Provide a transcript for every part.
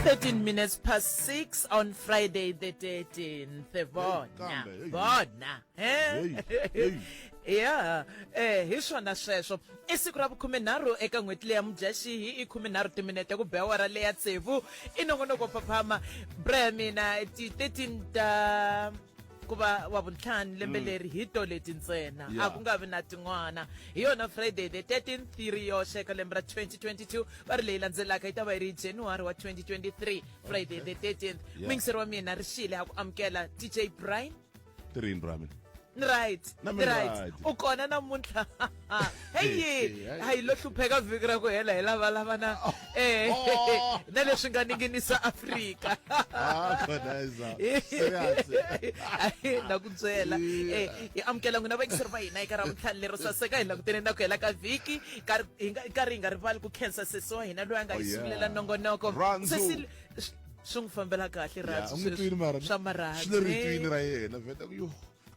13 minutes past 6 on Friday the 13th. Vona, vona. Eh? ya eh hi swona sweswo i siku ra vukhume nharhu eka n'hweti leya mudyaxihi i khume nharhu timinete ku be awara leya tsevu i nongonoko phaphama bra mina ti-13 ta ku va wa vuntlhanu lembe mm. leri hi to leti ntsena a ku nga vi na tin'wana hi yona friday the 13 theory yo xeka lembe ra 2022 va ri leyi landzelaka yi ta va yi ri january wa 2023 friday the 13th mingiseri wa mina ri xile ha ku amukela dj brian tirini ra mina ni right ni right u kona namuntlha Ah, heyi hayi lo hlupheka vhiki ra ku hela hi lava lavana oh. eh na leswi nga ninginisa Afrika ah khonaiza serious na ku byela eh hi amukela n'wina vayingiseri va hina eka ra vutlhali lero saseka hi langutene na ku hela ka vhiki nkarhi hi nga rivali ku khensa sesi wa hina loyi a nga hi oh, sungulela nongonoko sesi swi n'wi fambela kahle rhandziswa marhandziswi le ritwini ra yena vheta ku yo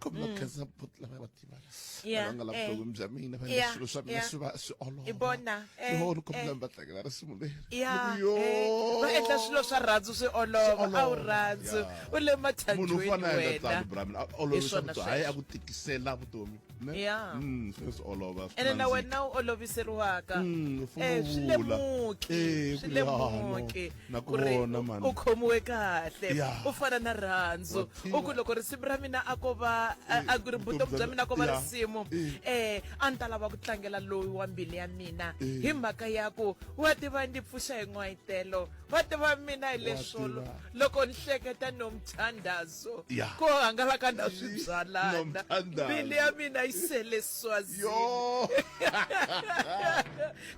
khombo va khensa buti lava va tivaka Yeah, lava nga la eh. vutomi bya mina va Yeah, swilo swa mina yeah. swi va swi olova I vona, eh, yo ni khombo eh. lava va tlangela risimu leri ya Ni ku, yo. eh, va endla swilo swa rhandzu swi olova a wu rhandzu Yeah. u le munhu u mathanjweni fana a endla tano wena brami a olovisa swona vutomi hayi sweswo. a ku tikisela vutomi ne? Yeah. Mm, swi swi olova swi ene na nandzika. wena u oloviseriwaka Mm, u funa Eh, u swi vula. lemuki Eh, swi ku ya, no. lemuki Na ku ku ri vona, u- mani. u khomiwe kahle Yeah. u fana na rhandzu Wa u ku loko risimu ra mina a ko va a ku ri vutomi bya mina ko va risimu um a ni ta lava ku tlangela loyi wa mbilu ya mina hi mhaka ya ku wa tiva ndzi pfuxa hi n'wayitelo wa tiva mina hi leswolo loko ni hleketa nomthandazo ko hangalaka na swibyalana mbilu ya mina yi sele swazini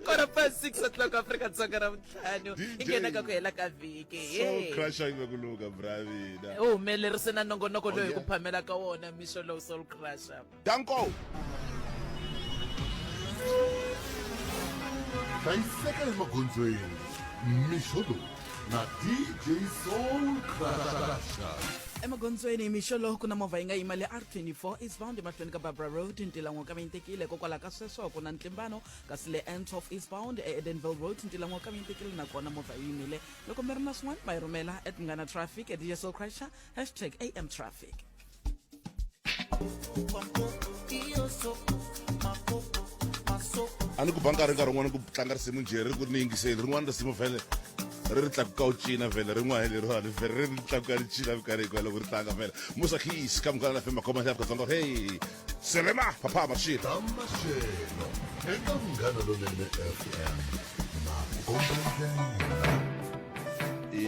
kora pa 6 o'clock afrika dzonga ra vutlhanu i nghena ka ku hela ka vhiki soulcrushervekuluka bravina u humelerise na nongonoko loyi hi ku phamela ka wona mixo lowu soul crusher danko hlayiseka emagondzweni mixo lowu na dj soul crusher emagondzweni mixo lowu ku na movha yi nga yima le r24 eastbound emahlweni ka barbara road ntilan'wo ka mintekile hikokwalaho ka sweswo ku na ntlimbano kasi le ends of eastbound eedenville road ntila n'wa ka mi tekile nakona movha yi yimile loko mi ri na swin'wana ma yi rhumela at munghana traffic at dj soul crusher hashtag am traffic a ni ku ba nkarhi nkarhi un'wana ku tlanga risimu njhe ri ku ri ni yingiseli rin'wana risimu vhele ri ri tlakuka u cina vhele rin'wana leriwani vhele ri ri tlakuka ri cina minkarhi hikwalaho ku ri tlanga vhele musa khis ka munghana na fema khoma xa afrika dzonga hey selema papa mashilo ta maxelo eka munghana lonene fm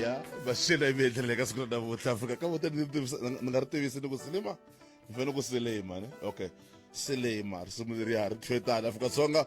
ya maxelo yi mi endlele ka siku ra navutlha afrika ka vote ni nga ri tivisi ni ku silima ni fanele ku silima ne okay silima risimu leriya ri tlhetana afrika dzonga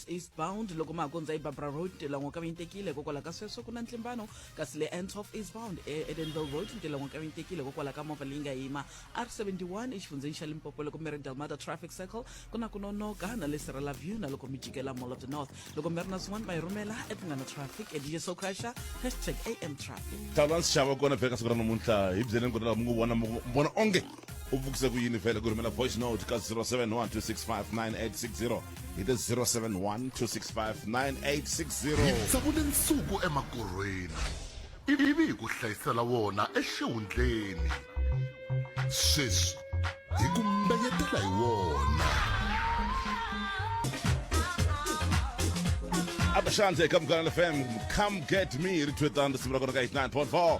eastbound loko magondzo ibarbra road ntilango ka vinyitekile hikokwalaho ka sweswo ku na ntlimbano kasi le n of eastbound eedenville road ntilango ka vinyitekile hikokwalaho ka movha leyi nga yima r 71 exifundzheni xa limpopo loko mi ri delmata traffic circle ku na ku nonoka na le serela view na loko mi jikela mall of the north loko mi ri na swin'wana ma yi rhumela epunghana traffic edj socrasha hashtag am traffic tala nxava kona vhela ka siku ra namuntlha hi byeleni ku ri laha mi ngo vona vona onge u vukisa ku yini vhele ku rhumela voice note ka 0712659860 hi the 0712659860 tsakule nsuku emakorhweni ivi hi ku hlayisela wona exihundleni sweswi hi ku mbeyetela hi wona abashandle come gonna fm come get me ri thwetana risimu ra kona ka 89.4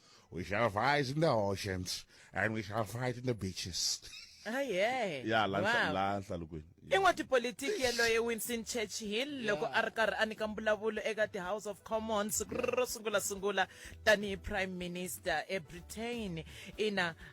We shall fight in the oceans and we shall fight in the beaches. aye ya la Wow. la hlalukweni i n'watipolitiki yaloye winston churchill loko a ri karhi a nyika mbulavulo eka ti-house of commons siku ro sungulasungula tanihi prime minister ebritain ina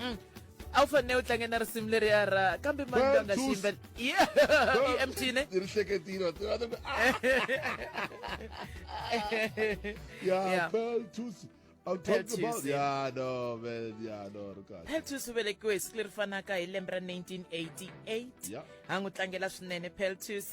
mm. a wu fanele u tlange na risimu leri ya ra kambe mani loyi a nga xiyimbela i emtine ri hleketile ya pearl tusi peltus u velekiwe hi siku leri fanaka hi lembe ra 1988 a n'wi tlangela swinene peltus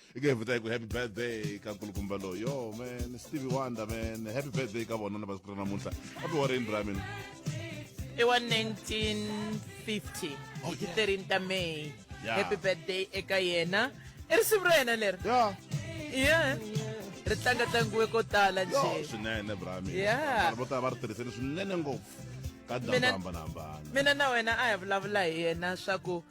i nge vita ku happy birthday ka nkulukumba lowu yo man stevie wonder man happy birthday ka vona na masiku ra namuntlha a ti wareni ra mina i wa 1950 Oh, hi yeah. 13 ta may Yeah. happy birthday eka yena i risimu ra yena leri ya yeah ri tlanga tlangiwe ko tala yo njhe swinene bra mina Yeah. Vanhu vo tala va ri tirhiseni swinene ngopfu ka Mina- ndhambanhambana mina na wena a hi vulavula hi yena swa ku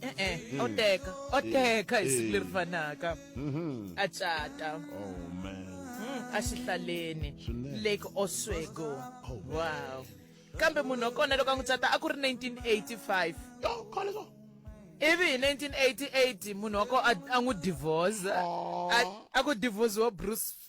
e-e o teka o teka hi siku leri fanaka a cata Oh man. Mm, exihlaleni Swinene. lake oswego Oh, man. wow kambe munhu wa kona loko a n'wi tsata a ku ri 1985 Yo, khale so. ivi hi 1988 munhu wa ko a a n'wi divorce a- a ku divorciwa bruce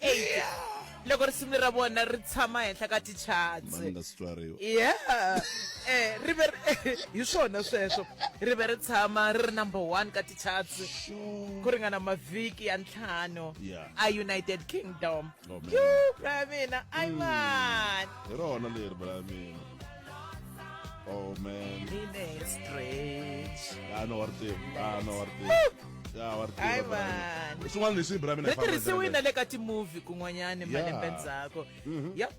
8 loko risimu ra vona ri tshama henhla ka tichatsi yeah eh ri ve hi swona sweswo ri ve ri tshama ri ri number one ka tichatsi ku ringana mavhiki ya ntlhanu a united kingdom oh, yo bra mina ayiman hmm. hi rona leri bra mina Oh man. Nine strange. Ya no warti. Ya no warti. Ya warti. Ai man. Swin'wana leswi hi Brahmin a famba. Tirhisiwile na le ka ti-movie kun'wanyana malembe ndzhaku. Mhm. Yep.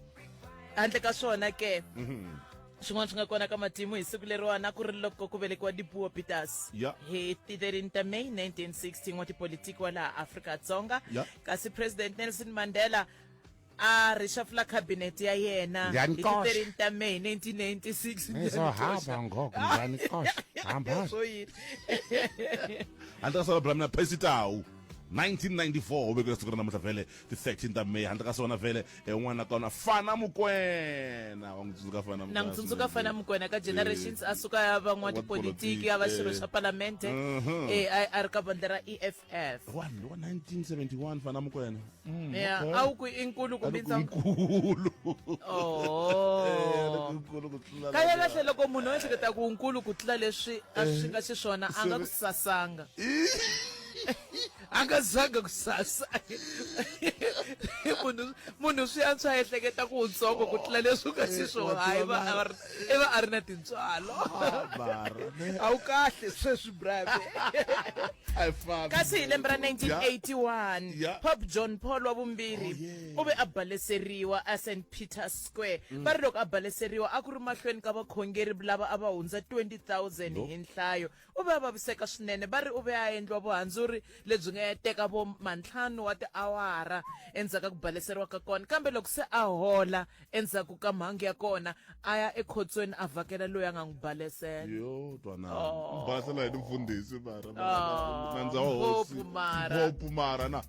Handle ka swona ke. Mhm. swin'wana swi nga kona ka matimu hi siku leriwana ku ri loko ku velekiwa dipuo peters yeah. hi ti 13 ta may 1916 wa tipolitiki wa laha afrika dzonga yeah. kasi president nelson mandela a rixafula khabinete ya yena hi ti 13 ta may 1996 1994 u vekela siku ra namuntlha vhele ti 13 ta may handle ka swona vhele en'wana ka wona fana mukwena wa n'wi tsundzuka fana na n'wi tsundzuka fana mukwena ka generations a suka ya van'watipolitiki ya va xirho xa palamende mhm. eh, a ri ka vandla ra e f Yes. wa ni wa 1971 fana mukwena Mm, Yeah, okay. a wu ku i nkulu kumbe Aloko ntsongo nkulu Eh, aloko oh nkulu ku tlula kahle lava. kahle loko munhu o ehleketa ku nkulu ku tlula leswi a swi nga xiswona a nga ku sasanga a nga zanga ku sasa munhu munhu swi antswa a ehleketa ku wutsongo ku tlula leswi u nga xiswona hayi va a va ri- i va a ri na tintswalo a wu kahle sweswi brave kasi hi lembe ra 1981 pope john paul wa vumbirhi oh, u ve a baleseriwa eSt Peter Square mm. va ri loko a baleseriwa a ku ri mahlweni ka vakhongeri lava a va hundza 20000 hi nhlayo U ve a vaviseka swinene va ri u ve a endliwa vuhandzuri lebyi nga ya teka vo mantlhanu wa tiawara endzhaku ka ku baleseriwa ka kona. Kambe loko se a hola endzhaku ka mhangu ya kona, a ya ekhotsweni a vhakela loyi a nga n'wi balesela. Yo twanana Oh. ni basela hi ni mfundhisi mara mara- mara- Oh, nandza wa hosi ngopfu mara. ngopfu mara na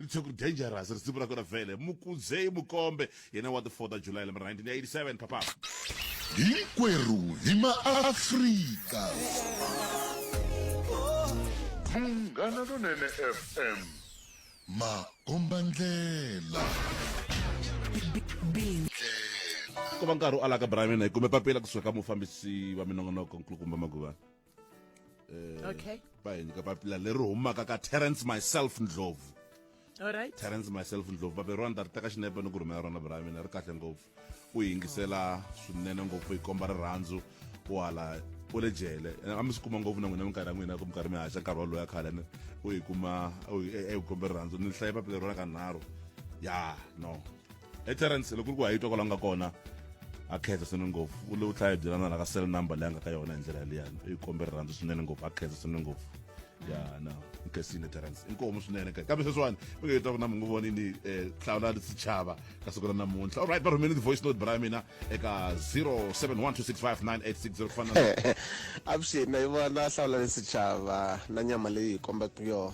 litsheku dangerous risimu ra kona vhele mukudzei mukombe yena wa the 4 ta july lembe ra 1987 papa hinkwerhu hi maafrika munghana lonene fm makombandlela ko va nkarhi u alaka brayimina hi kume papila kusuka ka mufambisi wa minongonoko nkulukumba maguvana eh, okay va hi nyika papila leri humaka ka terrence myself ndlovu alright terrence myself ndlovu babe rona ta ri teka xinepe ni ku rhumela rona bra mina ri kahle ngopfu u yingisela swinene ngopfu yi komba rirhandzu u hala u le jele a mi swi kuma ngopfu na n'wina minkarhi ya n'wina ku minkarhi mi haxa nkarhi wolowo ya khale ni u yi kuma u yi e, e, kombe rirhandzu ni hlaye papila rona ka nharhu ya no eterence loko ri ku hayitwa kwala nga kona a khensa swinene ngopfu u le u tlhaya byelana la ka cell number leyi a nga ka yona hi ndlela yaliyani i kombe rirhandzu swinene ngopfu a khensa swinene ngopfu ya na nkesini terence inkomu swinene ka kambe sweswiwani mi nga yitwaku na mi ngo voni ni um eh, hlawula ni sichava ka siku ra namuntlha allright va rhumele ti-voice note bra ya mina eka 0712659860 ku fana avuxeni na yi vona hlawula ni sichava na nyama leyi hi kombaka yona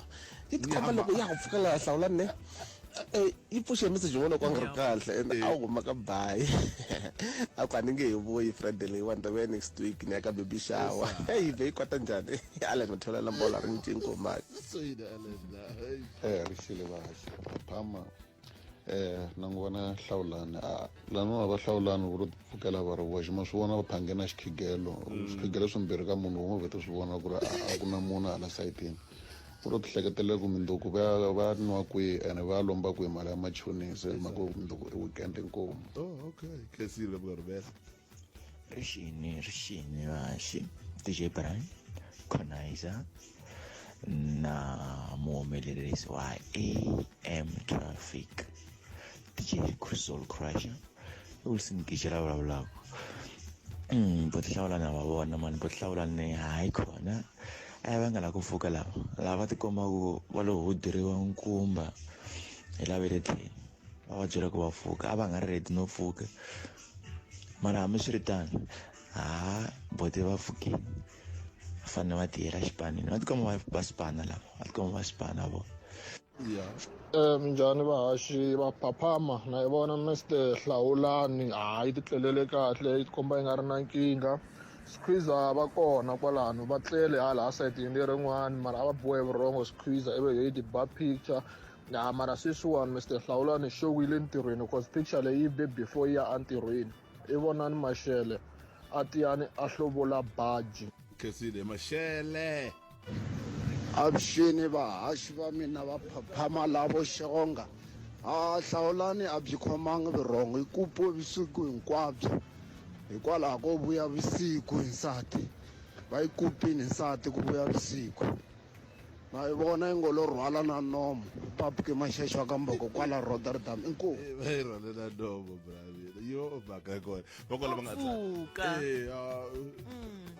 yi tikomba loko ya ha pfuka laha hlawula ne Eh, yi pfuxe message yin'wana ku a nga ri kahle and a wu huma ka bayi a ku a ni nge hi vuyi friday leyiwani ta vuya next week ni ya ka baby shower yi be yi kwata njhani allen u tholela mbola ri ncinci ngomaki eh ri xile kahle phama eh na n'wi vona hlawulani a ah, laniwa va hlawulani ku ri pfukela va ri voxe ma swi vona va phange na xikhigelo mm. swikhigelo swimbirhi ka munhu wun'we vete swi vona ku ri a ku na munhu hala sayitini ku lo tihleketelela ku mindzuku va ya va ya nwa kwihi ene va ya lomba kwihi mali ya machonisa hi mhaka ku mindzuku i weekend inkomu oh okay khensile vurivela rixini rixini vaxi dj brian conizer na muhumelerisi wa am traffic DJ Crystal Crusher u listen ngigijela vulavulaka mm bo hlawula na va vona mani bo hlawula ni hayi khona a va nga la ku pfuka lava lava tikombaku va lo huduriwa nkumba hi lave le tlhelo va va byela ku va pfuka a va nga ri ready no pfuka mara hambiswiritano ha bote va pfukile fanele va tiyela xipanini va tikoma va va sipana lava va tikoma va sipana vona ya um minjhani vahaxi va phaphama na yi vona mister hlawulani hayi ti tlelele kahle yi tikomba yi nga ri na nkingha squeeza va kona kwalano va tlele hala a sayitini lerin'wani mara a va bohe vurhongo squeeza ive yo yi ti ba picture ya mara sweswiwani mister hlawulani xo wile ntirhweni cause picture leyi be before yi ya entirhweni i vonani maxele a tiyani a hlovola baji khensile maxele Avuxeni vahaxi va mina va phaphama lavo xonga a hlawulani a byi khomanga vurhongo hi ku pwe vusiku hinkwabyo hikwalaho ko vuya vusiku hi nsati va yi kupini nsati ku vuya vusiku ma yi vona yi ngo lo rhwala na nomo papuke maxexo wa ka mboko kwala rotterdam inkomu rhalela nomo bravile yo mhaka kona va kwala va nga Pfuka. Eh, ah,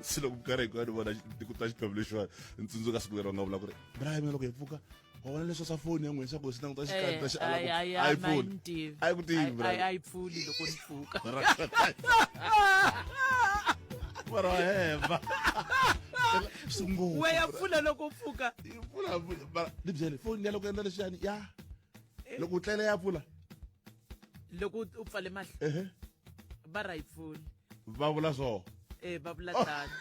se loko nkarhi hinkwayo ni vona xi- ku ta xiphemu lexiwani ni tsundzuka siku leri va nga vula ku ri brian mina loko hi pfuka wa vona leswi swa foni ya n'wina swa ku hi swi languta xikati ta xi ala ku- a yi pfuli a yi ku tivi Brian. ayi pfuli loko ni pfuka mara mara wa hemba sungula we ya pfula loko u pfuka ni byele foni ya loko endla leswiyani ya loko u tlele ya pfula loko u pfale mahlo ehe va ra yi pfuli va vula so e va vula tano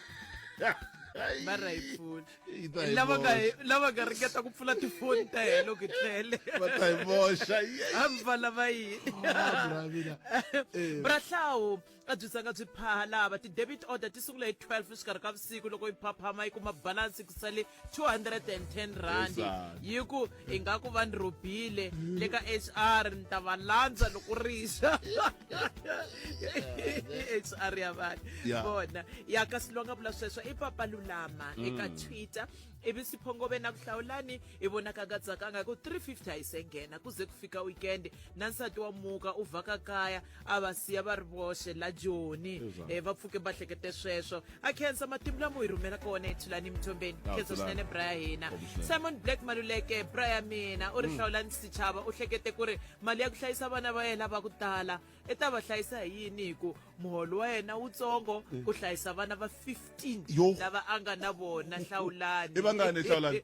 va ra yi pfuli Yi ta hi lava nga boxa. lava nga ringeta ku pfula tifoni ta hina loko hi tlele va ta hi boxa Yey. hambi va lava yini Ah, Bravina. Eh. brahlawu A byi zanga byi phaha lava. Ti-debit order ti sungula hi 12 exikarhi ka vusiku loko yi phaphama yi kuma balance ku sale 210 rand. Yi ku hi nga ku va ni rhobile le ka HR ni ta va landza loko rixa. HR ya vanhu Yeah. vona ya kasi loyi a nga vula sweswo i papa lulama eka twitter ivi siphongove na ku hlawulani i vonaka nga tsakanga hi ku 350 a yi se nghena ku ze ku fika weekend na nsati wa muka u vhaka kaya a va siya va ri voxe la joni um eh, va pfuke va hlekete sweswo a khensa matimu lamo hi rhumela kona ethulani emthombeni khensa swinene bra ya hina simon black maluleke bra ya mina u ri mm. hlawulani xichava u hlekete ku ri mali ya ku hlayisa vana va yena va ku tala i ta va hlayisa hi yini hi ku muholo wa yena wutsongo mm. ku hlayisa vana va 15 lava a nga na vona hlawulani i vangani hlawulani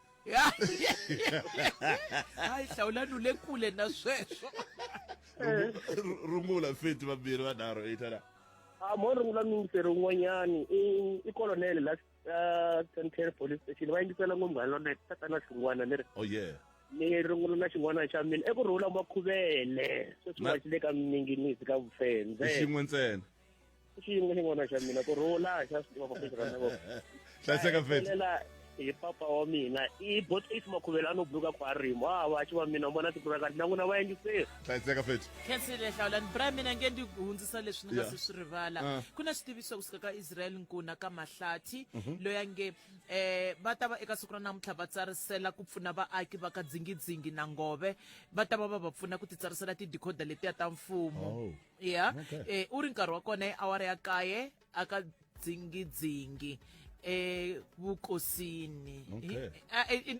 hayi hlawulani u le kule na sweswo Eh. Ru- rungula feti vambirhi vanharhu eyi tana Ah, mo rungula mingiseri un'wanyani i i colonel la ah, Central police station va yingisela ngopfu nga lona tatana xin'wana leri oh yeah ni rungula na xin'wana xa mina eku rhula makhuvele sweswi Na- wa xi le ka minginisi ka vufendze xin'we ntsena xiyimo ni vona xa mina ku rhula xa swi tiva maphesha ka mina hlayiseka fethu hi papa wa mina i bot eight makhuvela ano buluka ku arimo a va xi va mina u vona tikuva kanti na n'wina va yingiseri hlayiseka fethu khensile hlawulani bra mina nge ndi hundzisa leswi ni nga se swi rivala ah. ku na xitiviso kusuka ka israel nkuna ka mahlathi mhm. loyi a nge um va ta va eka siku ra namuntlha va tsarisela ku pfuna vaaki va ka dzingidzingi na ngove va ta va va va pfuna ku titsarisela tidikhoda letiya ta mfumo oh. ya okay. e, u ri nkarhi wa kona awara ya kaye aka dzingidzingi evukosini okay.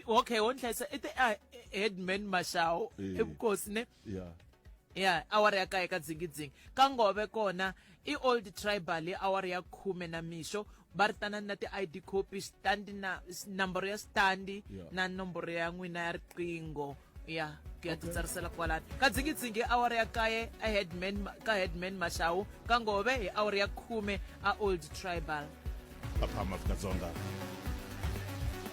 okay wo ndhlayisa i te headman mashawo evukosini yeah ya awara ya kaye ka dzingidzingi ka ngove kona i old tribal awara ya khume na mixo va ri tanani na ti-id copy stand na nomboro ya stand yeah. na nomboro ya n'wina ya riqingho ya ku ya titsarisela kwalani ka dzingidzingi awara ya kaye a headman ka headman mashawu ka ngove hi awara ya khume a old tribal apha maafrika dzonga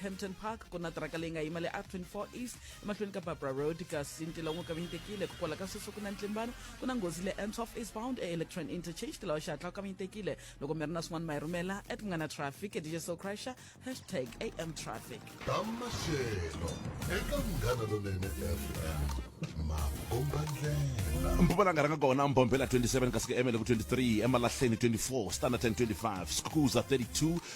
Hampton Park ku na tiraka leyi nga yima le R24 East emahlweni ka Barbara Road kasi ntila wun'we kavanyitekile ku kwala ka sweswo ku na ntlimbano ku na nghozi le N12 eastbound e-Electron Interchange tilawa xihatla wu kavanyitekile loko mi ri na swin'wana ma hi rhumela at ku nga na traffic dj so crasher hashtag am traffic ta maxelo eka munghana lonene fm makombandlela mpumalanga ranga kona mbombela 27 kasi ku emele ku 23 emalahleni 24 standerton 25 skuza 32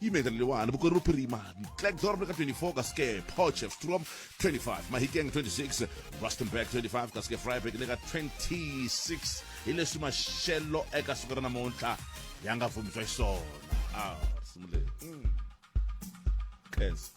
Imeta leliwani Bokone Bophirima, Klerksdorp ka 24 ka ske Potchefstroom 25, Mahikeng 26, Rustenburg 25 ka ske Vryburg le ka 26. Hi leswi maxelo eka siku ra namuntlha ya nga vumbiwa xiswona. Ah, simule. Mm. Khensa.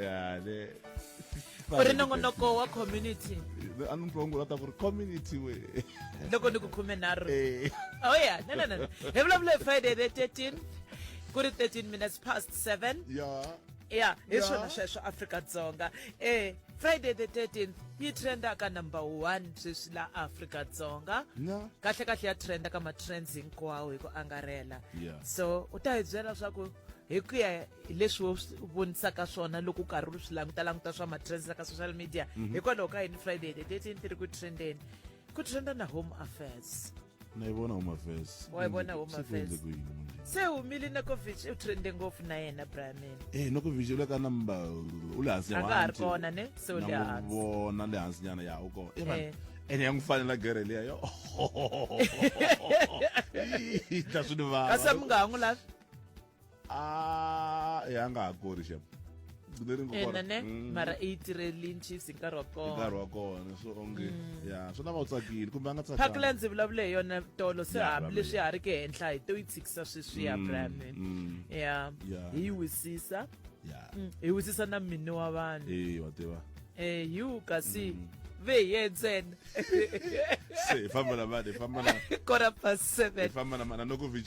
ya le u ri nongonoko wa community a ni twa ngulata ku ri community we loko ni ku khume nharhu eh. oh ya no no no hi vulavula hi friday the 13 ku ri 13 minutes past 7 ya ya hi swona sweswo afrika dzonga eh friday the 13th yi trenda ka number one sweswi la afrika dzonga kahle kahle ya trenda ka matrends hinkwawo hi ku angarhela so u ta hi byela swa ku hi ku ya hi leswi wo swi vonisaka swona loko karhi u swi languta languta swa matrends ka social media mhm. hikwalaho ka yini friday the thirteen ti ri ku trendeni ku trenda na home affairs na yi vona home affairs wa yi vona home affairs se humile nokovich u trende ngopfu na yena bramin e eh, nokovich u le ka number u le hansi a nga ha ri kona ne se u le hansi vona le hansi nyana ya u kona eh, ene ya n'wi fanela gere leya yo ta swi ni vava kasi mi nga ha n'wi lavi a e a nga ha kori xep gcine ri ena ne mm. mara i yi tirhelini chiefs hi nkarhi wa kona hi nkarhi wa kona so onge mm. ya swi lava u tsakile kumbe a nga tsakanga phakela ndzi vulavule hi yona tolo se hambileswi ha ri ke henhla hi to yi tshikisa sweswi ya mm, brand ya hi yi wisisa hi wisisa na mini wa vanhu e wa tiva eh yu kasi mm -hmm. veye ntsena se hi famba na mani hi famba na quarter past seven hi famba na mani anokovic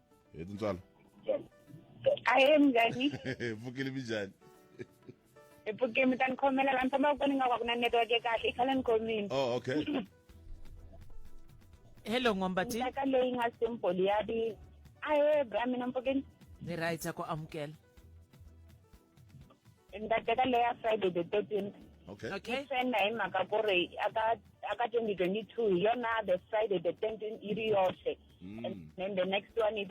hi tintswalo ahee mnjani pfukile minjhani hi pfuke mi ta ni khomela laha ni fambaka kona ni nga ka ku na network ya kahle i khale ni khomile oh okay hello n'wambati ntaka leyi nga simple ya vi ahee bra mina mpfukeni ni right ya ku amukela ni ta teka leyi ya friday the thirteenth okay ni okay trenda hi mhaka ku ri aka aka twenty twenty two hi yona the friday the thirteenth yi ri yoxe mm. and then the next one is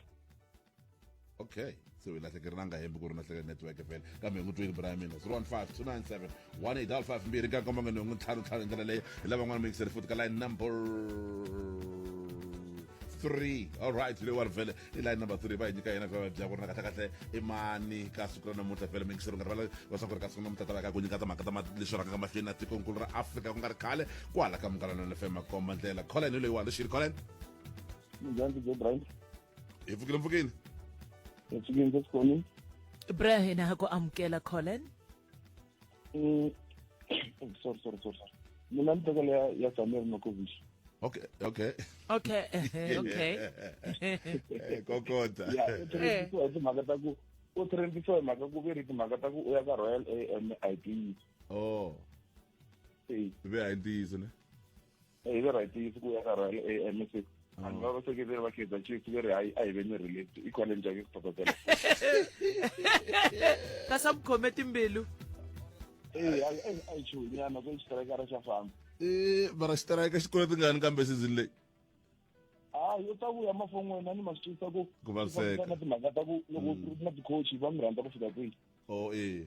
okay so ilahlekeriwanga hembe ku ri lahlekela network fela kambe hi n'wi twini bra ya mina 015 297 mbirhi ka nkombo nga nhungu ntlhanu ntlhanu hi ndlela leyi hi lava n'wana muyingiseri futhi ka line number three all right le wa vele i line number three va hi nyika yena vava bya ku ri na kahle kahle i mani ka siku ra namuntlha vele mingisero nga rivala va swa ku ri ka siku namuntlha ta va ka ku nyika timhaka ta leswi rhangaka mahlweni na tikonkulu ra afrika ku nga ri khale ku hala ka mungalano lefema komba ndlela colin hi loyiwani xi ri colin Njhani DJ Brian? hi pfukile mpfukile Hi pfukile ndzi khoni. Brian ha ku amukela Colin. Mm. Sorry sorry sorry. sorry. Mina ni tekela ya ya Samir Nokovic. okay okay Okay, eh, okay. Eh, kokota Ya, u trendisiwa hi timhaka ta ku u trendisiwa hi mhaka ku ve ri timhaka ta ku u ya ka Royal AMID. oh Eh, ve a hi ntiyiso ne hi ve right yi siku ya karhele e msc vanhu va vaseketeri va kaizer chiefs ve ri hayi a hi ve ni relate i khwale njhani ku phaphatela ka sa mukhome timbilu ee a yi chunyana se xiterekara xa famba ee mara xitereka xi kule tingani kambe season leyi hayi u ta vuya mafon'weni a ni ma swi twisa ku ku vaviseka na timhaka ta ku loko na ticoach va mi rhandza ku fika kwihi o ee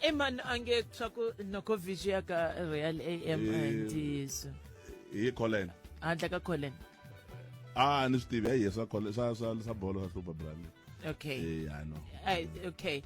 e mani a nge swa ku noko vision ya ka royal am Eh. ntiyiso hi colin handle ka colin a ni swi tivi hayi swa Colin- swa swa swa bolo swa hlupa brale okay eh i know Ay, okay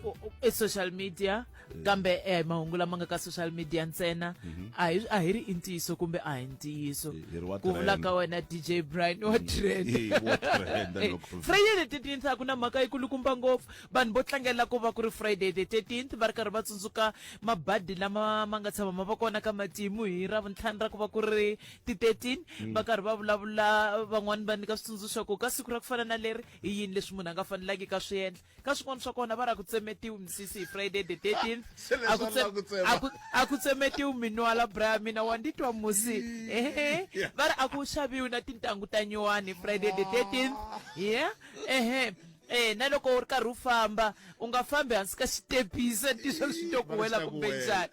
Ku- u- i social media kambe eh, mahungu lama nga ka social media ntsena a hi a hi ri i ntiyiso kumbe a hi ntiyiso Hi- hi ri wa ku vula trend. ka wena dj brian wa trend Eh, wa trend, Eh, loko- freyele titinsa ku na mhaka yi kulukumba ngopfu Vanhu vo tlangela ku va ku ri Friday the 13th va ri karhi va tsundzuka mabadi lama ma nga tshama ma va kona ka matimu hi Ravuntlhanu ra ku va ku ri ti 13 va karhi va vulavula van'wani va nyika switsundzuxo ku ka siku ra ku fana na leri i yini leswi munhu a nga fanelangiki a swi endla ka swin'wana swa kona va ri a ku tsemetiwi misisi hi Friday the 13th Se leswi a ku va tse- lava ku tsema. a ku- a ku tsemetiwi minwala bra mina wa ndi twa musi ehe va ri a ku xaviwi na tintangu ta nyuwani Friday the 13th yeah ehe Eya na loko u ri karhi u famba u nga fambi hansi ka xitepisi a ni tivi swa swi to ku wela kumbe njhani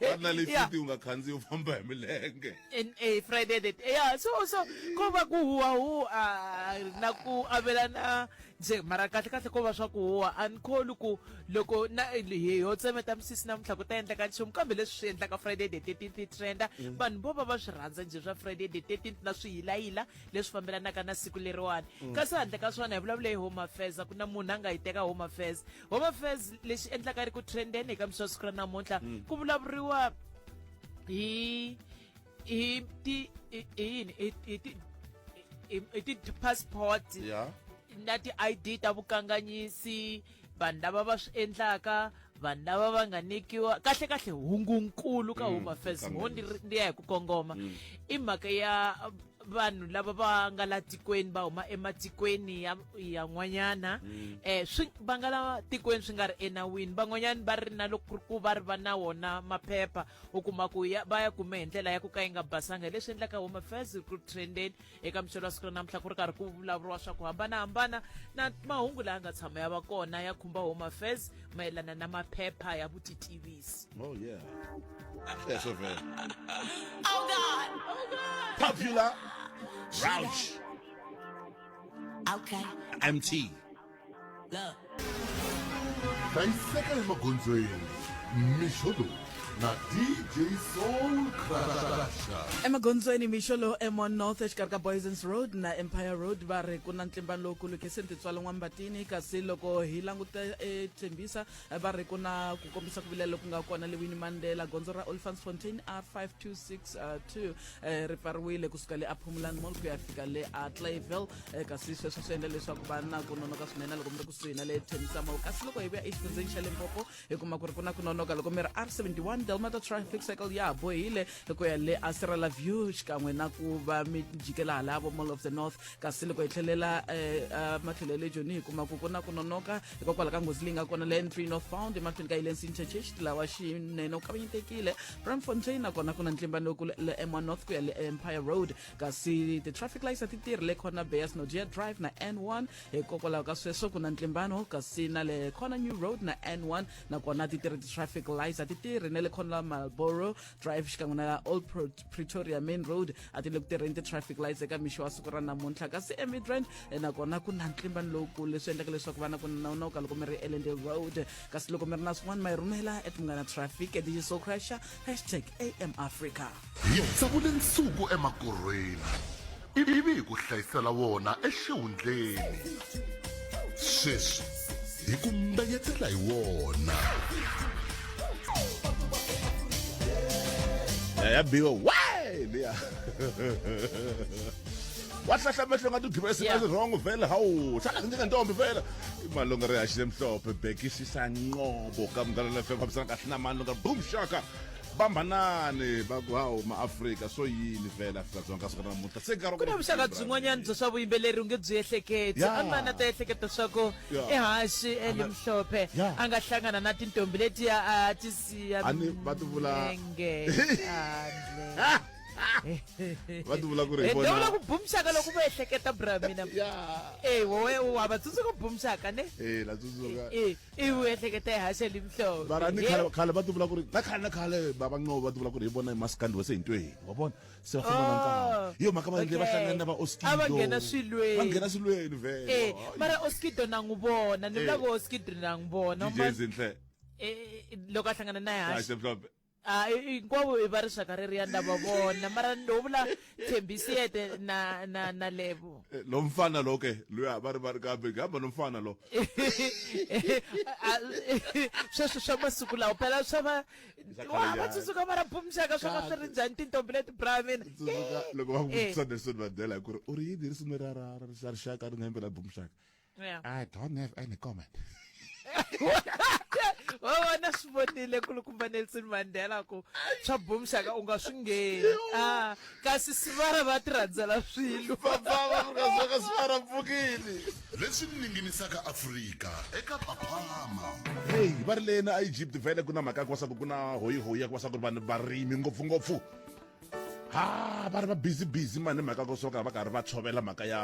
va na le fiti u nga khandziyi u famba hi milenge NA Friday that ya so so ko va ku huwa huwa na ku avelana nje mara kahle kahle ko va swa ku huwa a ni kholi ku loko na hi ho tsemeta misisi namuntlha ku ta endleka nchumu kambe leswi swi endlaka Friday the thirteenth yi trenda vanhu vo va va swi rhandza nje swa Friday the thirteenth na swiyilayila leswi fambelanaka na siku leriwani mm. kasi handle ka swona hi vulavule hi home affairs a ku na munhu a nga yi teka home affairs home affairs lexi endlaka ri ku trendeni eka mixo siku ra namuntlha mm. ku vulavuriwa hi hi ti hi yini hi ti hi ti passport na ti-id ta vukanganyisi vanhu lava va swi endlaka vanhu lava va nga nyikiwa kahle kahle hungunkulu ka mm, home affairs ngo ndi ya hi ku kongoma mm. i mhaka ya vanhu lava va nga la tikweni va huma ematikweni ya yan'wanyana um mm. eh, swi va nga la tikweni swi nga ri enawini van'wanyana va ri na loko ku va ri va na wona maphepha u kuma ku ya va ya kume hi ndlela ya ku ka yi nga basanga hi leswi endlaka home affairs recruit trendeni eka muchelo wa siku ra namuntlha ku ri karhi ku vulavuriwa swa ku hambanahambana na mahungu laya nga tshama ya va kona ya khumba home affairs mayelana na maphepha ya vutitivisi oh yeah yes, oh, God. Oh, God. popular Roush. Okay. MT. hlayiseka emagondzweni mixo lowu na dj soul crasha emagondzweni mixo lowu emon north exikarhi ka boysons road na empire road va ri ku na ntlimba lowukulu khese ntitswalo n'wambatini kasi loko hi languta etshembisa va ri ku na ku kombisa ku vilela loku nga kona lewini mandela gondzo ra olifans fontain r 5262 eh, ri pfariwile kusuka le aphumulan mall ku ya fika le a clayville eh, kasi sweswo swi endla leswaku va na ku nonoka swinene loko mi ri kusuhi na le thengisamall kasi loko hi vuya exifundzeni xa limpopo hi kuma ku ri ku na ku nonoka loko mi ri r 71 delmata traffic cycle ya ha bohile ku ya le asirala view xikan'we na ku va mi jikela halavo mall of the north kasi loko hi tlhelela um matlhelo ya le joni hi kuma ku ku na ku nonoka hikokwalaho ka nghozi leyi nga kona le n3 northbound emahlweni ka hilensi interchange tilawa xinene u kavanyetekile ramfontein nakona ku na ntlimba lowukulu le m1 north ku ya le empire road kasi ti-traffic lights a ti tirhi le corner bayas nodia drive na n1 hikokwalaho ka sweswo ku na ntlimbano kasi na le corner new road na n1 nakona ti tirhi ti-traffic lights a ti tirhi na le corner malboro drive xikan'we na old Pro- pretoria main road a ti le ku tirheni ti-traffic lights eka mixo wa siku ra namuntlha kasi emidrand nakona ku na ntlimbano lowukulu leswi endlaka leswaku vana ku nawunawuka loko mi ri elende road kasi loko mi ri na swin'wana ma yi rhumela at munghana traffic at so crusher hashtag am africa hi tsavule nsuku emakorhweni ivi hi ku hlayisela wona exihundleni sweswi hi ku mbenyetela hi wona ya biwa wa leya wahlahla amehlo ngathi udliwa esingazi yeah. wrong vele hawu hlala njengentombi vele imali ongarehashile mhlophe bhekisisa nqobo kamdlalana fm hambisana kahle namani longa boom shaka bambanani hawu maafrika so yini vele afrika dzonga siku namuntlha se nkarhi ku na vuxaka byin'wanyana bya swa vuyimbeleri u nge byi ehleketi an'wana ta ehleketa swa ku ehaxi elimhlophe a nga hlangana na tintombi letiya a ti siya va ti vula va ti vula ku ri ende vula ku bumxaka loko va ehleketa bra mina e wowe wa va tsundzuka bumxaka ne e la tsundzuka e i u ehleketa hi hashe limhlobo mara ni khale khale va ti vula ku ri na khale na khale baba nqobo va ti vula ku ri hi vona maskandi wa se hi ntweni wa vona se va famba na nkarhi oh, yo mhaka va ndle va hlangana na va oskido va nghena swilweni va nghena swilweni vele e mara oskido na n'wi vona ni vula ku oskido na n'wi vona DJ Zinhle e loko a hlangana na hashe Ah, i- hinkwavo i va rixaka reriya nda va vona mara ndo vula thembisiete na na na lebo Eh, lo mfana lo ke luya va ri va ri kambe ngihamba no mfana lo Ah, sweswi swa masiku lawa phela swa va Swa khale wa va njhani? tsundzuka mara bumxaka swa va swi ri njhani tintombi leti bra mina tsundzuka loko va ku Eh. vutisa nelson mandela hi ku ri u ri yini hi risimu ra ra ra ra rixaka ri nga yimbela bumxaka Yeah. I don't have any comment. wa vona swi vonile kulukumba nelson mandela ku swa boom shaka u nga swi ngheni a kasi sivara va ti rhandzela swilo papavavukazoka sivara mpfukini leswi ninginisaka afrika eka paphama heyi va ri leni a egypt vhele ku na mhaka ya ku va swa ku ku na hoyihoyi ya ku va swa ku ri vanhu varimi ngopfungopfu ha va ri va busy busy mani mhaka ko soka va karhi va tshovela mhaka ya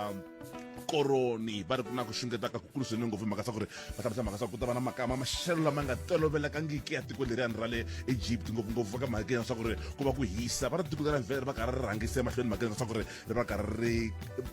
koroni va ri ku na ku xungetaka ku kulu swinene ngopfu mhaka sa ku ri va hlamusa mhaka sa ku ta va na makama maxelo lama nga tolovelekangiki ya tiko leriyani ra le egypt ngopfungopfu va ka mhaka ya swa ku ri ku va ku hisa va ri tiko leri vhele ri va karhi ri rhangise emahlweni mhaka ya swa ku ri ri va karhi ri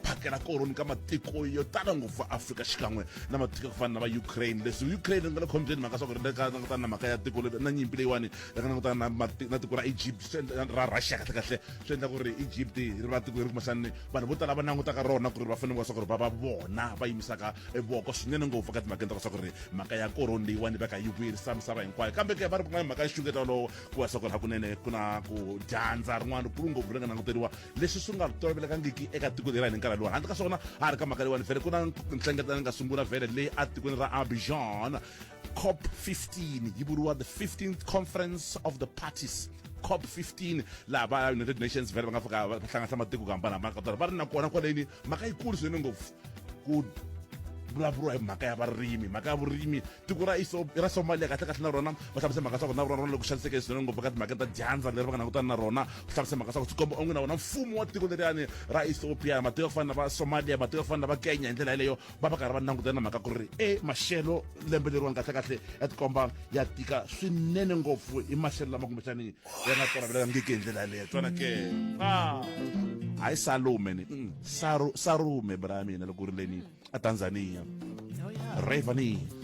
phakela koroni ka matiko yo tala ngopfu va afrika xikan'we na matiko ya ku fana na va ukraine leswi ukraine ri nga le khombyeni mhaka swa ku ri le ka langutana na mhaka ya tiko na nyimpi leyiwani ri nga langutana na mati- na tiko ra egypt swi endla- ra russia kahle kahle swi endla ku ri egypt ri va tiko leri kumaxani vanhu vo tala va langutaka rona ku ri va fanele va swa ku ri va va vona va yimisaka e voko swinene ngopfu ka timhakeni ta ka swa ku ri mhaka ya koroni leyiwani va ka yi vuyerisa misava hinkwayo kambe ke va ri ku nga mhaka ya xungeta wolowo ku va swa ku ri hakunene ku na ku dyandza rin'wana kulu ngopfu ri nga languteriwa leswi swi nga tolovelekangiki eka tiko leri ni nkarhi lowu handle ka swona a ri ka mhaka leyiwani vhele ku na nhlengeletano nga sungula vhele leyi a tikweni ra abijan cop 15 yi vuriwa the 15th conference of the parties cop 15 laha va united nations vhele va nga fika va hlanganisa matiko ku hambanahambana ka tona va ri na kona kwaleni mhaka yikulu swinene ngopfu ku vulavuriwa hi mhaka ya varimi mhaka ya vurimi tiko ra iso ra somalia kahle kahle na rona va hlamise mhaka swa ku na rona rona loko xaniseke swinene ngopfu ka timhaka ta dyandza leri va nga langutana na rona ku hlamise mhaka swa ku swi komba onge na wona mfumo wa tiko leriyani ra ethiopia matiko ya ku fana na va somalia matiko ya ku fana na va kenya hi ndlela yeleyo va va karhi va langutana na mhaka ku ri e maxelo lembe leriwani kahlekahle ya tikomba ya tika swinene ngopfu hi maxelo lama kumbexani ya nga tolavelekangiki hi ndlela yaleyo tswana ke hayi salume ni mm, sarume bra ya mina loko ri leni etanzania ravani